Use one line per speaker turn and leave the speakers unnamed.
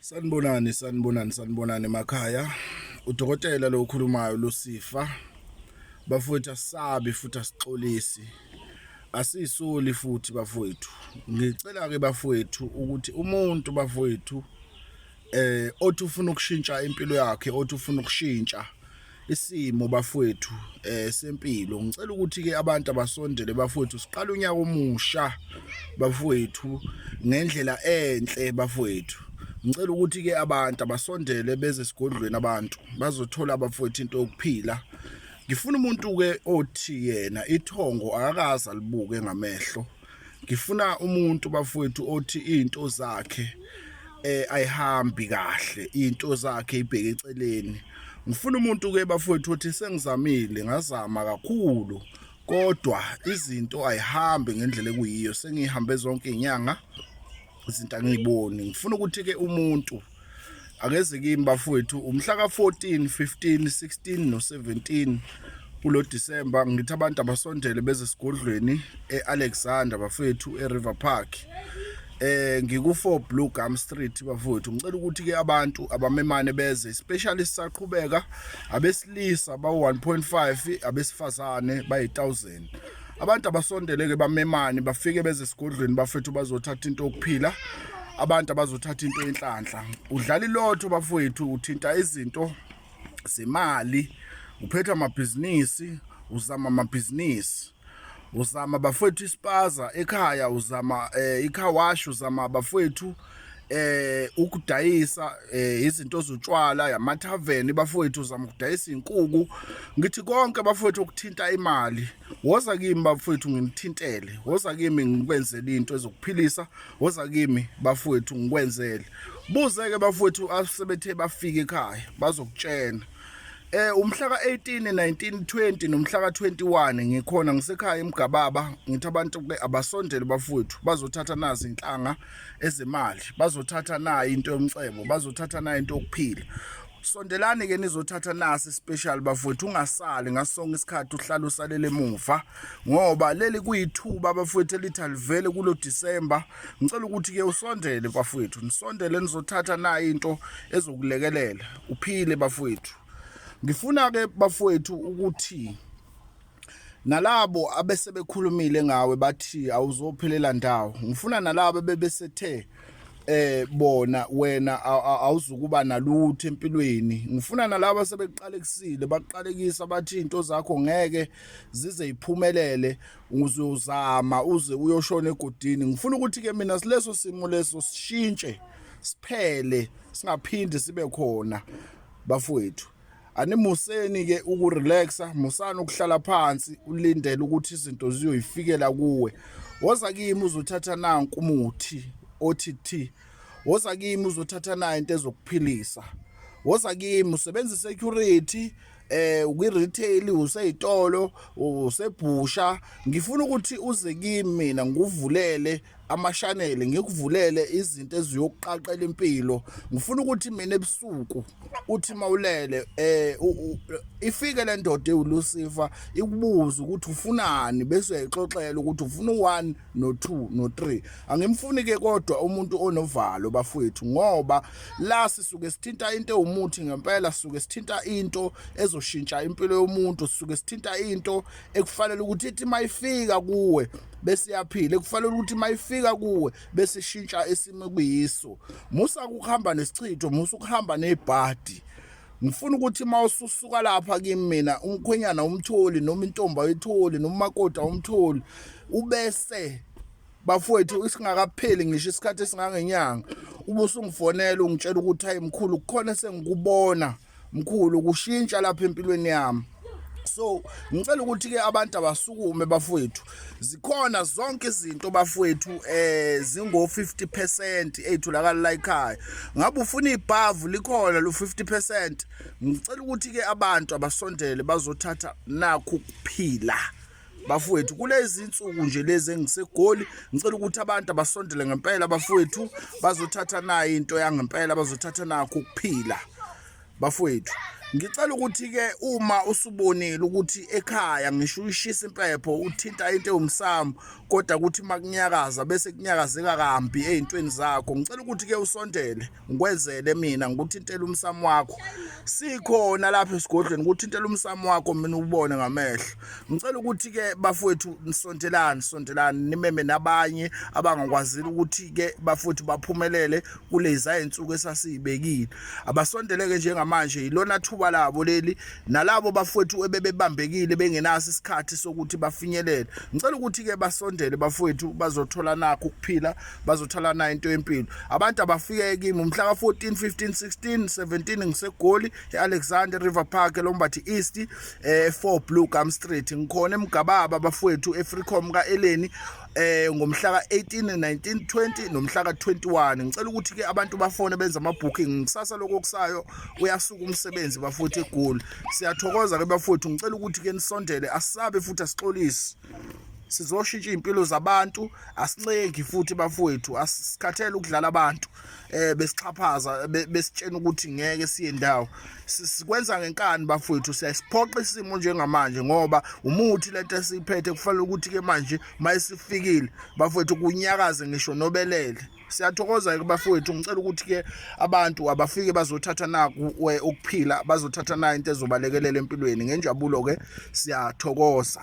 Sanibonani sanibonani sanibonani emakhaya udokotela lo ukhulumayo lusifa bafowethu asabi futhi asixolisi asisoli futhi bafowethu ngicela ke bafowethu ukuthi umuntu bafowethu eh othi ufuna ukushintsha impilo yakhe othi ufuna ukushintsha isimo bafowethu eh sempilo ngicela ukuthi ke abantu abasondele bafowethu siqala unyaka omusha bafowethu ngendlela enhle bafowethu ngicela ukuthi ke abantu abasondele beze esigodlweni abantu bazothola abafowethu into yokuphila ngifuna umuntu ke othi yena ithongo akakaza libuke ngamehlo ngifuna umuntu bafowethu othi izinto zakhe eh ayihambi kahle izinto zakhe ibheke eceleni ngifuna umuntu ke bafowethu othi sengizamile ngazama kakhulu kodwa izinto ayihambi ngendlela ekuyiyo sengihambe zonke inyanga izinto angiyiboni ngifuna ukuthi ke umuntu akeze kimi bafowethu umhla ka 14 15 16 no 17 kulo December ngithi abantu abasondele beze sigodlweni eAlexander bafowethu eRiver Park eh ngiku4 Blue Gum Street bafowethu ngicela ukuthi ke abantu abamemane beze especially sisaqhubeka abesilisa ba 1.5 abesifazane bayi 1000 emhlabeni abantu abasondeleke bamemani bafike beze esigodlweni bafethu bazothatha into yokuphila abantu abazothatha into yenhlanhla udlala ilotho bafowethu uthinta izinto zemali uphetha amabhizinisi uzama amabhizinisi uzama bafowethu isipaza ekhaya uzama um eh, ikhawashi uzama bafowethu eh ukudayisa eh, izinto zotshwala yamathaveni bafowethu zama ukudayisa inkuku ngithi konke bafowethu okuthinta imali woza kimi bafowethu ngimthintele woza kimi ngikwenzele into ezokuphilisa woza kimi bafowethu ngikwenzele buzeke bafowethu asebethe bafike ekhaya bazokutshena Eh umhla ka18 1920 nomhla ka21 ngikhona ngisekhaya eMgababa ngithi abantu ke abasondele bafowethu bazothatha nazi inhlanga ezemali bazothatha na into yomcebo bazothatha na into yokuphila sondelani ke nizothatha nasi special bafowethu ungasali ngasonke isikhathi uhlala usalele emuva ngoba leli kuyithuba bafowethu elithi alivele kulo December ngicela ukuthi ke usondele bafowethu nisondele nizothatha na into ezokulekelela uphile bafowethu ngifuna ke bafowethu ukuthi nalabo abesebekhulumile ngawe bathi awuzophelela ndawo ngifuna nalabo bebesethe eh bona wena awuzukuba nalutho empilweni ngifuna nalabo sebeqalekisile baqalekisa bathi into zakho ngeke zize iphumelele uzozama uze uyoshona egodini ngifuna ukuthi ke mina sileso simo leso sishintshe siphele singaphindi sibe khona bafowethu animuseni ke ukurelaxa musani ukuhlala phansi ulindele ukuthi izinto ziyoyifikela kuwe woza kimi uzothatha nanku umuthi othi thi woza kimi uzothatha nayo into ezokuphilisa woza kimi usebenza security eh ukwi-retail useyitolo usebhusha ngifuna ukuthi uze kimi mina ngikuvulele amashanele ngikuvulele izinto eziyokuqaqela impilo ngifuna ukuthi mina ebusuku uthi mawulele eh ifike le ndoda ewulusifa ikubuza ukuthi ufunani bese uyayixoxela ukuthi ufuna u1 no2 no3 angimfuni ke kodwa umuntu onovalo bafowethu ngoba la sisuke sithinta into ewumuthi ngempela sisuke sithinta into ezoshintsha impilo yomuntu sisuke sithinta into ekufanele ukuthi ithi mayifika kuwe bese yaphila ekufanele ukuthi mayifika kuwe bese ishintsha isimo kuyiso musa ukuhamba nesichitho musa ukuhamba nebhadi ngifuna ukuthi uma ususuka lapha kimi mina umkhwenyana umtholi noma intombi ayitholi noma umakoti awumtholi ubese bafowethu isingakapheli ngisho isikhathi esingangenyanga ubusungifonela ungitshela ukuthi hayi mkhulu kukhona sengikubona mkhulu kushintsha lapha empilweni yami so ngicela ukuthi ke abantu abasukume bafowethu zikhona zonke izinto bafowethu eh zingo 50% ezitholakala la ekhaya ngabe ufuna ibhavu likhona lo 50% ngicela ukuthi ke abantu abasondele bazothatha nakho kuphila bafowethu kulezi nsuku nje lezi engisegoli ngicela ukuthi abantu abasondele ngempela bafowethu bazothatha nayo into yangempela bazothatha nakho ukuphila bafowethu ngicela ukuthi-ke uma usubonile ukuthi ekhaya ngisho uyishisa impepho uthinta into ewumsamo kodwa ukuthi uma kunyakaza bese kunyakazeka kambi ey'ntweni zakho ngicela ukuthi-ke usondele ngikwenzele mina ngikuthintela umsamo wakho sikhona lapha esigodlweni kuthintela umsamo wakho mina ubone ngamehlo ngicela ukuthi ke bafowethu nisontelani sontelani nimeme nabanye abangakwazile ukuthi ke bafowethu baphumelele kuleza insuku esasiyibekile abasondeleke njengamanje yilona thuba labo leli nalabo bafowethu ebebebambekile bengenaso isikhathi sokuthi bafinyelele ngicela ukuthi ke basondele bafowethu bazothola nakho ukuphila bazothola nayo into yempilo abantu abafike kimi umhla ka 14 15 16 17 ngisegoli eAlexander River Park eLombathi East eh 4 Blue Gum Street ngikhona emgababa bafowethu eFreecom ka Eleni eh ngomhla ka 18 19 20 nomhla ka 21 ngicela ukuthi ke abantu bafone benza ama booking kusasa lokho kusayo uyasuka umsebenzi bafuthi egoli siyathokoza ke bafowethu ngicela ukuthi ke nisondele asabe futhi asixolise sizoshintsha izimpilo zabantu asincengi futhi bafowethu asikhathele ukudlala abantu eh besixhaphaza besitshena ukuthi ngeke siye ndawo sikwenza ngenkani bafowethu siyasiphoqa isimo njengamanje ngoba umuthi lento esiyiphethe kufanele ukuthi ke manje mayisifikile bafowethu kunyakaze ngisho nobelele siyathokoza-ke kubafowethu ngicela ukuthi-ke abantu abafike bazothatha naku ukuphila bazothatha nayo into ezobalekelela empilweni ngenjabulo-ke siyathokoza